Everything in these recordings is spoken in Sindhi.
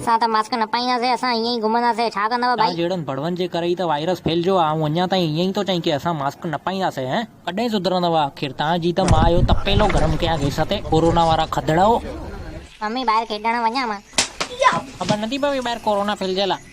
اسان ته ماسڪ نه پائينداسين، اسان ائين ئي گهمنداسين، ڇا ڪندؤ ڀائي؟ توهان جهڙن ڀڙوئن جي ڪري ئي ته وائرس ڦهلجيو آهي، آئون اڃا تائين ائين ئي ٿو چئين ڪي اسان ماسڪ نه پائينداسين هه. ڪڏهن سڌرندؤ آخر؟ توهان جي ته مان اهو تپيلو گرم ڪيان گئس تي، ڪورونا وارا کدڙؤ. ممي ٻاهر کيڏڻ وڃان مان؟ خبر نٿي پوي ٻاهر ڪورونا ڦهلجيل آهي.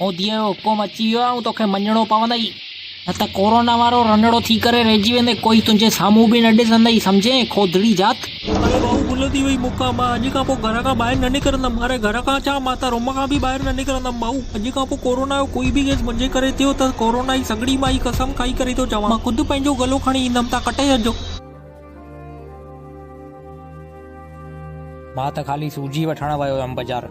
موديء جو حڪم اچي ويو آهي، توکي مڃڻو پوندئي، نه ته ڪورونا وارو رنڙو ٿي ڪري رهجي ويندين، ڪوئي تنهنجي سامهون به نه ڏسندئي، سمجهين، کودڙي ذات! اڙي ٻاهو گل ٿي وئي مونکان، مان اڄ کان پوء گهر کان ٻاهر نه نڪرندم، اڙي گهر کان ڇا، مان ته روم کان به ٻاهر نه نڪرندم، ٻاهو، اڄ کان پوء ڪورونا جو ڪوئي به ڪيس منهنجي ڪري ٿيو ته ڪورونا جي سڳڙي مان هي قسم کائي ڪري ٿو چوان، مان خود پنهنجو گلو کڻي ايندم، تان ڪٽي ڇڏجو. مان ته خالي سوجي وٺڻ ويو هيم بازار.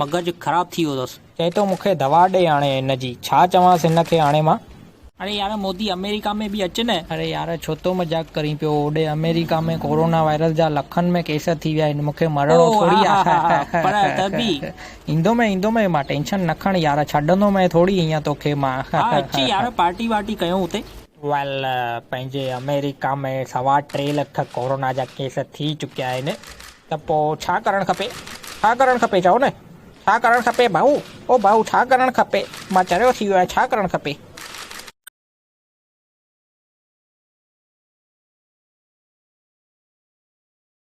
مغز خراب ٿي ويو اٿس. چئي ٿو مون کي دوا ڏي هاڻي هن جي ڇا چوانس هن کي هاڻي مان. اڙي يار مودي امريڪا ۾ به اچ نه. اڙي يار ڇو ٿو مذاق ڪرين پيو هوڏي امريڪا ۾ ڪورونا وائرس جا لکن ۾ ڪيس ٿي ويا آهن مون کي مرڻو ٿوري آهي ها ها ها پر ته به. ايندومئي ايندومئي مان ٽينشن نه کڻ يار ڇڏندومئي ٿوري هينئن توکي مان ها ها ها ها. اچ يار پارٽي وارٽي ڪيون اتي. ويل پنهنجي امريڪا ۾ سوا ٽي لک ڪورونا جا ڪيس ٿي چڪيا آهن ته پوء ڇا ڪرڻ کپي؟ ڇا ڪرڻ کپي چئو نه؟ ڇا ڪرڻ کپي ڀائو؟ او ڀائو ڇا ڪرڻ کپي؟ مان چريو ٿي ويو آهيان ڇا ڪرڻ کپي؟